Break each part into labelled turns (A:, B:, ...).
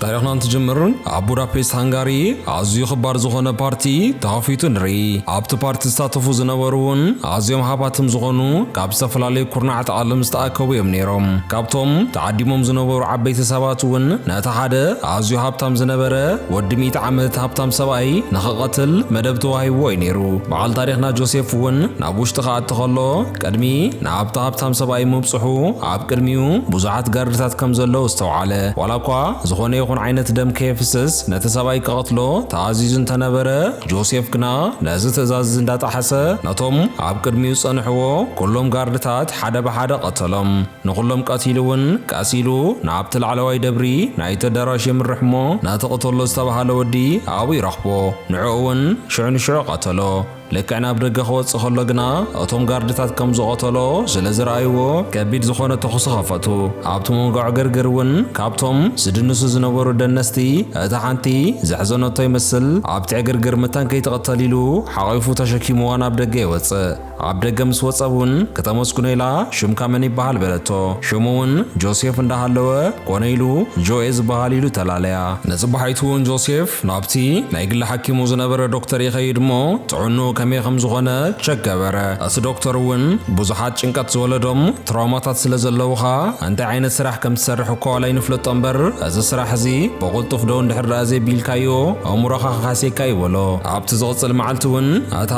A: ታሪኽና እንትጅምር ኣብ ቡዳፔስት ሃንጋሪ ኣዝዩ ክባር ዝኾነ ፓርቲ ተኸፊቱ ንርኢ። ኣብቲ ፓርቲ ዝሳተፉ ዝነበሩ እውን ኣዝዮም ሃባትም ዝኾኑ ካብ ዝተፈላለዩ ኩርናዓት ዓለም ዝተኣከቡ እዮም ነይሮም። ካብቶም ተዓዲሞም ዝነበሩ ዓበይቲ ሰባት እውን ነቲ ሓደ ኣዝዩ ሃብታም ዝነበረ ወዲ ሚእቲ ዓመት ሃብታም ሰብኣይ ንኽቐትል መደብ ተዋሂብዎ እዩ ነይሩ። በዓል ታሪኽና ጆሴፍ እውን ናብ ውሽጢ ክኣቲ ከሎ ቅድሚ ናብቲ ሃብታም ሰብኣይ ምብጽሑ ኣብ ቅድሚኡ ብዙሓት ጋርድታት ከም ዘለዉ ኣስተውዓለ። ዋላ እኳ ዝዀነ ይኹን ዓይነት ደም ከየፍስስ ነቲ ሰብኣይ ክቐትሎ ተኣዚዙ እንተ ነበረ፣ ጆሴፍ ግና ነዚ ትእዛዝ እዚ እንዳ ጠሓሰ ነቶም ኣብ ቅድሚኡ ዝጸንሕዎ ኵሎም ጋርድታት ሓደ ብሓደ ቐተሎም። ንዅሎም ቀቲሉ እውን ቀስ ኢሉ ናብቲ ላዕለዋይ ደብሪ ናይቲ ኣዳራሽ የምርሕ እሞ ነቲ ቕተሎ ዝተባህለ ወዲ ኣብኡ ይረኽቦ። ንዕኡ እውን ሽዑ ንሽዑ ቐተሎ። ልክዕ ናብ ደገ ክወጽእ ከሎ ግና እቶም ጋርድታት ከም ዝቐተሎ ስለ ዝረኣይዎ ከቢድ ዝኾነ ተኹሲ ከፈቱ። ኣብቲ መንጎ ዕግርግር እውን ካብቶም ዝድንሱ ዝነበሩ ደነስቲ እታ ሓንቲ ዘሕዘነቶ ይመስል ኣብቲ ዕግርግር መታን ከይትቕተል ኢሉ ሓቚፉ ተሸኪሙዋ ናብ ደገ ይወጽእ። ኣብ ደገ ምስ ወጸ እውን ክተመስግኖ ኢላ ሽምካ መን ይበሃል በለቶ። ሽሙ እውን ጆሴፍ እንዳሃለወ ኮነ ኢሉ ጆኤ ዝበሃል ኢሉ ተላለያ። ነዚ በሃይት'ውን ጆሴፍ ናብቲ ናይ ግሊ ሓኪሙ ዝነበረ ዶክተር ይኸይድ እሞ ጥዕንኡ ከመይ ከም ዝኾነ ቸክ ገበረ። እቲ ዶክተር'ውን ብዙሓት ጭንቀት ዝወለዶም ትራውማታት ስለ ዘለዉኻ እንታይ ዓይነት ስራሕ ከም ትሰርሕ እኳ ዋላ ኣይንፍለጦ እምበር እዚ ስራሕ እዚ ብቕልጡፍ ደው እንድሕር ደኣ ዘቢልካዮ ኣእምሮኻ ክሃስየካ እዩ በሎ። ኣብቲ ዝቕጽል መዓልቲ'ውን እታ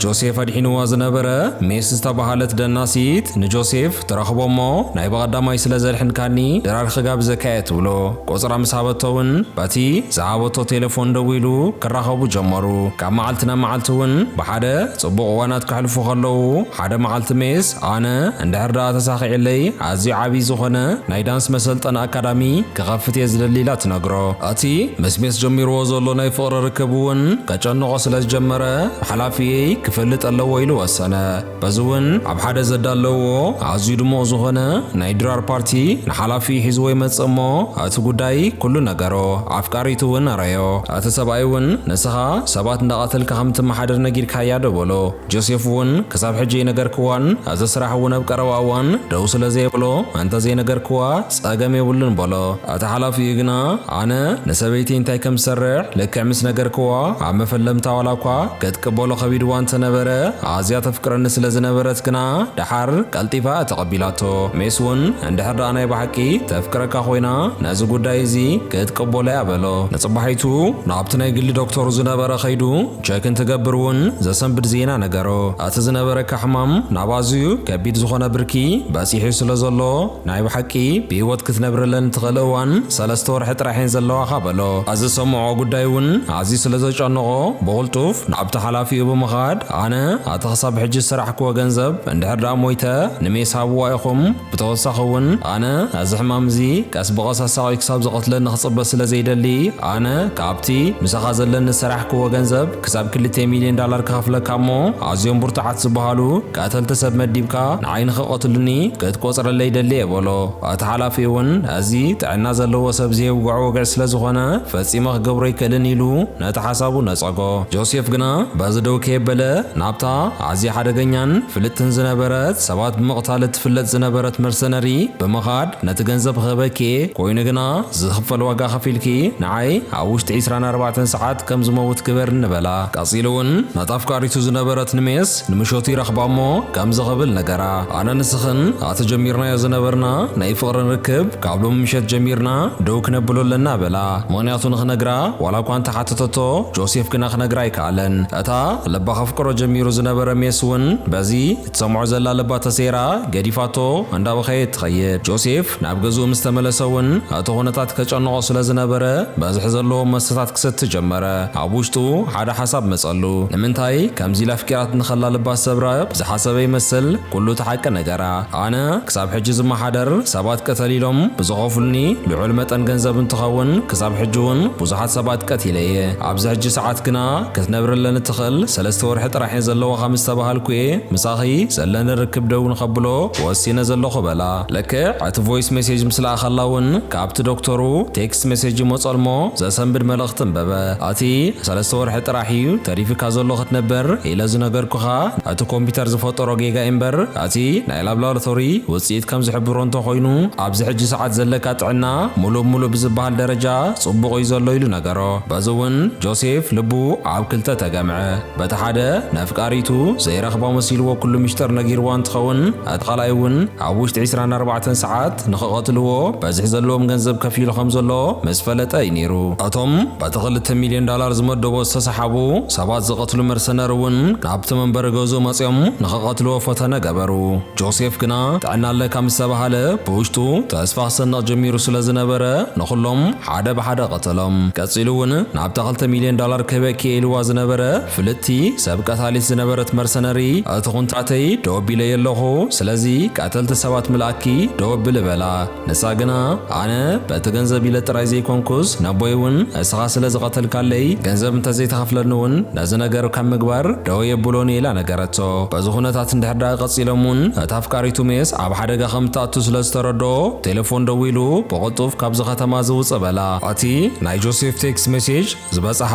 A: ጆሴፍ ኣድሒንዋ ዝነበረ ሜስ ዝተበሃለት ደናሲት ንጆሴፍ ትረኽቦ እሞ ናይ ብቐዳማይ ስለ ዘድሕንካኒ ድራር ክጋብዘካ እየ ትብሎ። ቁጽራ ምስ ሃበቶ ውን በቲ ዝሃበቶ ቴለፎን ደዊሉ ክራኸቡ ጀመሩ። ካብ መዓልቲ ናብ መዓልቲ ውን ብሓደ ጽቡቕ እዋናት ከሕልፉ ከለዉ ሓደ መዓልቲ ሜስ ኣነ እንድሕር ደኣ ተሳኺዕለይ ኣዝዩ ዓብይ ዝኾነ ናይ ዳንስ መሰልጠኒ ኣካዳሚ ክኸፍት እየ ዝደሊ ኢላ ትነግሮ። እቲ ምስ ሜስ ጀሚርዎ ዘሎ ናይ ፍቕሪ ርክብ ውን ከጨንቖ ስለ ዝጀመረ ሓላፊየይ ክፈልጥ ኣለዎ ኢሉ ወሰነ። በዚ እውን ኣብ ሓደ ዘዳለውዎ ኣዝዩ ድሙቕ ዝኾነ ናይ ድራር ፓርቲ ንሓላፊ ሒዝዎ ይመጽእ እሞ እቲ ጉዳይ ኩሉ ነገሮ። ኣፍቃሪቱ እውን ኣረዮ። እቲ ሰብኣይ እውን ንስኻ ሰባት እንዳቐተልካ ከም እትመሓደር ነጊርካያ ዶ በሎ። ጆሴፍ እውን ክሳብ ሕጂ ኣይነገርክዋን እዚ ስራሕ እውን ኣብ ቀረባ እዋን ደው ስለ ዘየብሎ እንተ ዘይነገርክዋ ጸገም የብሉን በሎ። እቲ ሓላፊኡ ግና ኣነ ንሰበይተይ እንታይ ከም ዝሰርሕ ልክዕ ምስ ነገርክዋ ኣብ መፈለምታ ዋላ እኳ ክትቅበሎ ከቢድዋ እንተ ነበረ ኣዝያ ተፍቅረኒ ስለ ዝነበረት ግና ደሓር ቀልጢፋ እያ ተቐቢላቶ። ሜስ እውን እንድሕር ደኣ ናይ ብሓቂ ተፍቅረካ ኮይና ነዚ ጉዳይ እዚ ክትቅበሎ እያ በሎ። ንጽባሒቱ ናብቲ ናይ ግሊ ዶክተሩ ዝነበረ ከይዱ ቸክ እንትገብር እውን ዘሰንብድ ዜና ነገሮ። እቲ ዝነበረካ ሕማም ናብ ኣዝዩ ከቢድ ዝኾነ ብርኪ በጺሑ ስለ ዘሎ ናይ ብሓቂ ብሂወት ክትነብርለን ትኽእል እዋን ሰለስተ ወርሒ ጥራሕ እየን ዘለዋኻ በሎ። ኣዚ ዝሰምዖ ጉዳይ እውን ኣዝዩ ስለ ዘጨነቖ ብቕልጡፍ ናብቲ ሓላፊኡ ብምኻድ ኣነ ኣቲ ክሳብ ሕጂ ዝሰራሕክዎ ገንዘብ እንድሕር ደኣ ሞይተ ንሜስ ሃብዋ ኢኹም ብተወሳኺ እውን ኣነ ኣዚ ሕማም እዚ ቀስ ብቐስ ኣሳቕዩ ክሳብ ዝቐትለኒ ክጽበ ስለ ዘይደሊ ኣነ ካብቲ ምሳኻ ዘለኒ ዝሰራሕክዎ ገንዘብ ክሳብ ክልተ ሚልዮን ዳላር ክኸፍለካ እሞ ኣዝዮም ብርቱዓት ዝበሃሉ ቀተልቲ ሰብ መዲብካ ንዓይ ንኽቐትሉኒ ክትቆጽረለይ ደሊ'የ በሎ። እቲ ሓላፊ'ውን እዚ ጥዕና ዘለዎ ሰብ ዘየውግዖ ወግዒ ስለ ዝኾነ ፈጺመ ክገብሮ ኣይክእልን ኢሉ ነቲ ሓሳቡ ነጸጎ። ጆሴፍ ግና በዚ ደው ከየበለ ናብታ ኣዝያ ሓደገኛን ፍልጥትን ዝነበረት ሰባት ብምቕታል እትፍለጥ ዝነበረት መርሰነሪ ብምኻድ ነቲ ገንዘብ ክህበኪ'የ፣ ኮይኑ ግና ዝኽፈል ዋጋ ከፊልኪ ንዓይ ኣብ ውሽጢ ዕስራን ኣርባዕተን ሰዓት ከም ዝመውት ግበር እንበላ። ቀጺሉ እውን ነታ ኣፍቃሪቱ ዝነበረት ንሜስ ንምሸቱ ይረኽባ እሞ ከምዚ ክብል ነገራ፣ ኣነ ንስኽን ኣቲ ጀሚርናዮ ዝነበርና ናይ ፍቕርን ርክብ ካብ ሎሚ ምሸት ጀሚርና ደው ክነብሎ ኣለና በላ። ምኽንያቱ ንኽነግራ ዋላ እኳ እንተሓተተቶ ጆሴፍ ግና ክነግራ ኣይከኣለን። እታ ልባ ከፍቅሮ ጀሚሩ ዝነበረ ሜስ እውን በዚ። እትሰምዖ ዘላ ልባ ተሰይራ ገዲፋቶ እንዳበኸየት ትኸይድ። ጆሴፍ ናብ ገዝኡ ምስ ተመለሰ እውን እቲ ኩነታት ከጨንቖ ስለ ዝነበረ በዝሒ ዘለዎም መስተታት ክሰቲ ጀመረ። ኣብ ውሽጡ ሓደ ሓሳብ መጸሉ። ንምንታይ ከምዚ ኢላ ኣፍቂራትኒ ከላ ልባ ዝሰብረ ዝሓሰበ ይመስል ኩሉ እቲ ሓቂ ነገራ። ኣነ ክሳብ ሕጂ ዝመሓደር ሰባት ቅተሊ ኢሎም ብዝኸፍሉኒ ልዑል መጠን ገንዘብ እንትኸውን ክሳብ ሕጂ እውን ብዙሓት ሰባት ቀቲለ እየ። ኣብዚ ሕጂ ሰዓት ግና። ክትነብርለን እትኽእል ሰለስተ ወርሒ ጥራሕ እየን ዘለዋኻ ምስ ተባሃልኩ እየ ምሳኺ ዘለኒ ርክብ ደው ንኸብሎ ወሲነ ዘለኹ በላ። ልክዕ እቲ ቮይስ ሜሴጅ ምስ ለኣኸላ እውን ካብቲ ዶክተሩ ቴክስት ሜሴጅ ይመፆልሞ ዘሰንብድ መልእኽቲ እንበበ። እቲ ሰለስተ ወርሒ ጥራሕ እዩ ተሪፊካ ዘሎ ክትነበር ኢለ ዝነገርኩኻ እቲ ኮምፒተር ዝፈጠሮ ጌጋ እዩ እምበር እቲ ናይ ላብላርቶሪ ውፅኢት ከም ዝሕብሮ እንተኾይኑ ኣብዚ ሕጂ ሰዓት ዘለካ ጥዕና ሙሉእ ብሙሉእ ብዝበሃል ደረጃ ፅቡቕ እዩ ዘሎ ኢሉ ነገሮ። በዚ እውን ጆሴፍ ልቡ ኣብ ክልተ ተገምዐ። በቲ ሓደ ነፍቃሪቱ ዘይረኽባ መሲልዎ ኩሉ ምሽጥር ነጊርዋ እንትኸውን እቲ ካልኣይ እውን ኣብ ውሽጢ ዕስራን ኣርባዕተን ሰዓት ንኽቐትልዎ በዝሒ ዘለዎም ገንዘብ ከፊሉ ከም ዘሎ ምስ ፈለጠ እዩ ነይሩ። እቶም በቲ ክልተ ሚልዮን ዳላር ዝመደቦ ዝተሰሓቡ ሰባት ዝቐትሉ መርሰነር እውን ናብቲ መንበሪ ገዝኡ መጺኦም ንኽቐትልዎ ፈተነ ገበሩ። ጆሴፍ ግና ጥዕና ኣለካ ምስ ተባሃለ ብውሽጡ ተስፋ ክሰንቕ ጀሚሩ ስለ ዝነበረ ንኹሎም ሓደ ብሓደ ቀተሎም። ቀጺሉ እውን ናብታ ክልተ ሚልዮን ዳላር ክህበ ክኢልዋ ዝነበረ ፍልጥቲ ሰብ ቀታሊት ዝነበረት መርሰነሪ እቲ ኩንታተይ ደው ኣቢለዮ ኣለኹ ስለዚ ቀተልቲ ሰባት ምልኣኪ ደው ኣብሊ በላ። ንሳ ግና ኣነ በቲ ገንዘብ ኢለ ጥራይ ዘይኮንኩስ ነቦይ እውን ንስኻ ስለ ዝቐተልካለይ ገንዘብ እንተ ዘይትኸፍለኒ እውን ነዚ ነገር ካብ ምግባር ደው ኣየብሎን እየ ኢላ ነገረቶ። በዚ ኩነታት እንድሕር ደኣ ቀጺሎም እውን እታ ኣፍቃሪቱ ሜስ ኣብ ሓደጋ ከም እትኣቱ ስለ ዝተረድኦ ቴለፎን ደዊሉ ብቑ ቅልጡፍ ካብዚ ከተማ እዚ ውጽእ በላ። እቲ ናይ ጆሴፍ ቴክስ ሜሴጅ ዝበጽሓ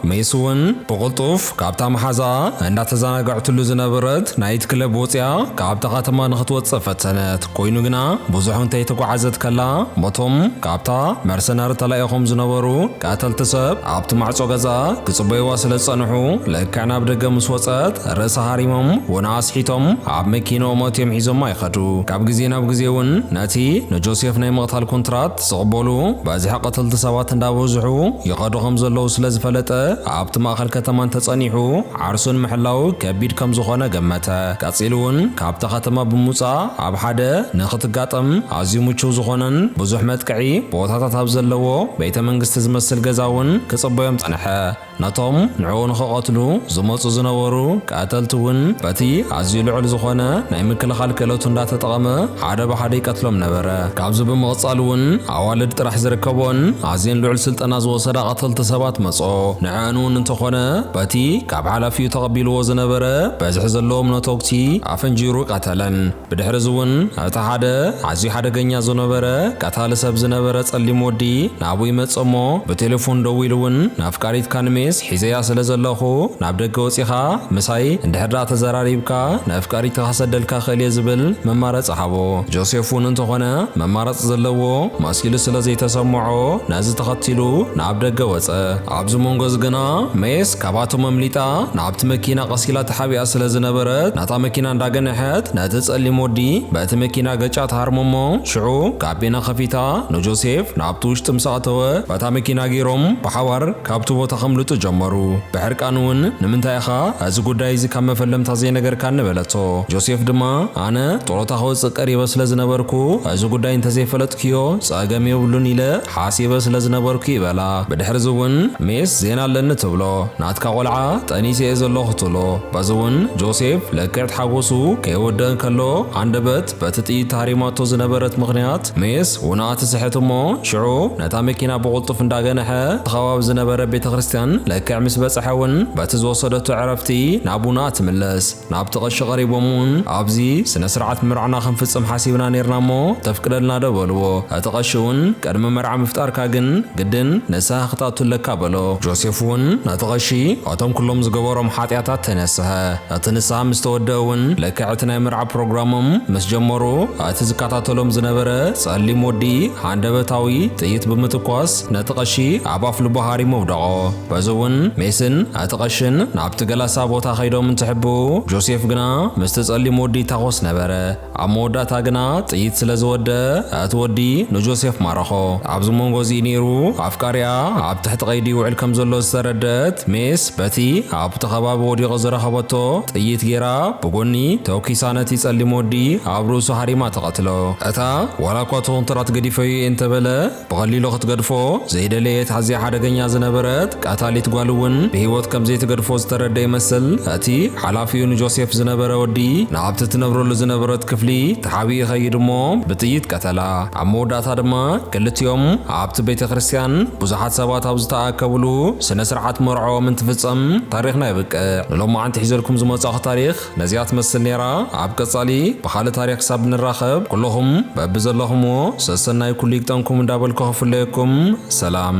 A: ሜስ እውን ብቕልጡፍ ካብታ መሓዛኣ እንዳተዘናገዐትሉ ዝነበረት ናይት ክለብ ወጺኣ ካብታ ከተማ ንኽትወጽእ ፈተነት። ኮይኑ ግና ብዙሕ እንተይተጓዓዘት ከላ እቶም ካብታ መርሰነሪ ተላኢኾም ዝነበሩ ቀተልቲ ሰብ ኣብቲ ማዕጾ ገዛኣ ክጽበዩዋ ስለ ዝጸንሑ ልክዕ ናብ ደገ ምስ ወጸት ርእሳ ሃሪሞም ወነኣ ኣስሒቶም ኣብ መኪንኦም ኣእትዮም ሒዞማ ይኸዱ። ካብ ግዜ ናብ ግዜ እውን እቲ ንጆሴፍ ናይ ምቕታል ኩንትራት ዝቕበሉ በዝሒ ቀተልቲ ሰባት እንዳበዝሑ ይኸዱ ከም ዘለዉ ስለ ዝፈለጠ ኣብቲ ማእከል ከተማ እንተጸኒሑ ዓርሱ ንምሕላው ከቢድ ከም ዝኾነ ገመተ። ቀጺሉ ውን ካብታ ከተማ ብምውጻእ ኣብ ሓደ ንኽትጋጠም ኣዝዩ ምቹው ዝኾነን ብዙሕ መጥቅዒ ቦታታት ኣብ ዘለዎ ቤተ መንግስቲ ዝመስል ገዛ ውን ክጽበዮም ጸንሐ። ነቶም ንዕኡ ንኽቐትሉ ዝመጹ ዝነበሩ ቀተልቲ እውን በቲ ኣዝዩ ልዑል ዝኾነ ናይ ምክልኻል ክእለቱ እንዳተጠቐመ ሓደ ብሓደ ይቀትሎም ነበረ። ካብዚ ብምቕጻል እውን ኣዋልድ ጥራሕ ዝርከበኦን ኣዝየን ልዑል ስልጠና ዝወሰዳ ቀተልቲ ሰባት መጽኦ። ንዐኣን እውን እንተኾነ በቲ ካብ ሓላፊኡ ተቐቢልዎ ዝነበረ በዝሒ ዘለዎም ነቶጉቲ ኣፈንጂሩ ቀተለን። ብድሕርዚ እውን እቲ ሓደ ኣዝዩ ሓደገኛ ዝነበረ ቀታሊ ሰብ ዝነበረ ጸሊም ወዲ ናብኡ ይመጽእ እሞ ብቴሌፎን ደዊሉ እውን ንኣፍቃሪት ካንሜስ ሒዘያ ስለ ዘለኹ ናብ ደገ ወጺኻ ምሳይ እንድሕር ደኣ ተዘራሪብካ ንኣፍቃሪትኻ ክሰደልካ እኽእል እየ ዝብል መማረጺ ሃቦ። ጆሴፍ እውን እንተኾነ መማረጺ ዘለዎ መሲሉ ስለ ዘይተሰምዖ ነዚ ተኸቲሉ ናብ ደገ ወጸ። ኣብዚ መንጎ እዚ ግና ሜስ ካብኣቶም ኣምሊጣ ናብቲ መኪና ቀስ ኢላ ተሓቢኣ ስለ ዝነበረት እታ መኪና እንዳገነሐት ነቲ ጸሊም ወዲ በቲ መኪና ገጫ ትሃርሞ እሞ ሽዑ ካቢና ከፊታ ንጆሴፍ ናብቲ ውሽጢ ምስ ኣእተወ በታ መኪና ገይሮም ብሓባር ካብቲ ቦታ ከምልጡ ጀመሩ። ብሕርቃን እውን ንምንታይ ኢኻ እዚ ጉዳይ እዚ ካብ መፈለምታ ዘይነገርካኒ በለቶ። ጆሴፍ ድማ ኣነ ጥሮታ ክወጽእ ቀሪበ ስለ ዝነበርኩ እዚ ጉዳይ እንተዘይፈለጥክዮ ጸገም የብሉን ኢለ ሓሲበ ስለ ዝነበርኩ እዩ በላ። ብድሕርዚ እውን ሜስ ዜና ኣለኒ ትብሎ ናትካ ቆልዓ ጠኒሰ እየ ዘለኹ ትብሎ። በዚ'ውን ጆሴፍ ልክዕት ሓጎሱ ከይወደእ እንከሎ ሃንደበት በቲ ጥይት ተሃሪማቶ ዝነበረት ምኽንያት ሜስ ውናኣ ትስሕት እሞ ሽዑ ነታ መኪና ብቕልጡፍ እንዳገነሐ እቲ ከባቢ ዝነበረ ቤተክርስትያን ልክዕ ምስ በጽሐ ውን በቲ ዝወሰደቶ ዕረፍቲ ናብ ውናኣ ትምለስ ናብቲ ቐሺ ቐሪቦም ውን ኣብዚ ስነ ስርዓት ምርዕና ክንፍጽም ሓሲብና ኔርና እሞ ተፍቅደልና ዶ በልዎ እቲ ቐሺ ውን ቅድሚ መርዓ ምፍጣርካ ግን ግድን ንስሃ ክትኣቱ ኣለካ በሎ ጆሴፍ ውን ነቲ ቐሺ እቶም ኩሎም ዝገበሮም ሓጢኣታት ተነስሐ። እቲ ንስሓ ምስ ተወድአ እውን ልክዕ እቲ ናይ መርዓ ፕሮግራሞም ምስ ጀመሩ እቲ ዝከታተሎም ዝነበረ ጸሊም ወዲ ሃንደበታዊ ጥይት ብምትኳስ ነቲ ቀሺ ኣብ ኣፍልቡ ሃሪሙ ኣውደቖ። በዚ እውን ሜስን እቲ ቀሽን ናብቲ ገላሳ ቦታ ከይዶም እንትሕብኡ ጆሴፍ ግና ምስቲ ጸሊም ወዲ ይታኾስ ነበረ። ኣብ መወዳእታ ግና ጥይት ስለ ዝወደኣ እቲ ወዲ ንጆሴፍ ማረኾ። ኣብዚ መንጎ እዚ እዩ ነይሩ ኣፍቃሪኣ ኣብ ትሕቲ ቀይዲ ይውዕል ከም ዘሎ ዝተረደኣት ሜስ በቲ ኣብቲ ከባቢ ወዲቑ ዝረኸበቶ ጥይት ገይራ ብጎኒ ተኩሳ ነቲ ጸሊም ወዲ ኣብ ርእሱ ሃሪማ ትቐትሎ። እታ ዋላ እኳ እቲ ኮንትራት ገዲፈዮ እየ እንተበለ፣ ብቐሊሉ ክትገድፎ ዘይደለየት ኣዝያ ሓደገኛ ዝነበረት ቀታሊት ጓሉ እውን ብህይወት ከም ዘይትገድፎ ዝተረድኣ ይመስል። እቲ ሓላፊኡ ንጆሴፍ ዝነበረ ወዲ ናብቲ እትነብረሉ ዝነበረት ክፍሊ ተሓቢኡ ይኸይድ እሞ ብጥይት ቀተላ። ኣብ መወዳእታ ድማ ክልቲኦም ኣብቲ ቤተ ክርስቲያን ብዙሓት ሰባት ኣብ ዝተኣከብሉ ስነ ስርዓት መርዕኦም እንትፍጸም ታሪኽና የብቅዕ። ንሎማዓንቲ ሒዘልኩም ዝመጻኹ ታሪኽ ነዚኣ ትመስል ኔራ ኣብ ቀጻሊ ብኻልእ ታሪኽ ክሳብ ንራኸብ ኩሉኹም በብዘለኹምዎ ሰሰናዩ ኩሉ ይግጠምኩም እንዳበልኩ ክፍለየኩም ሰላም።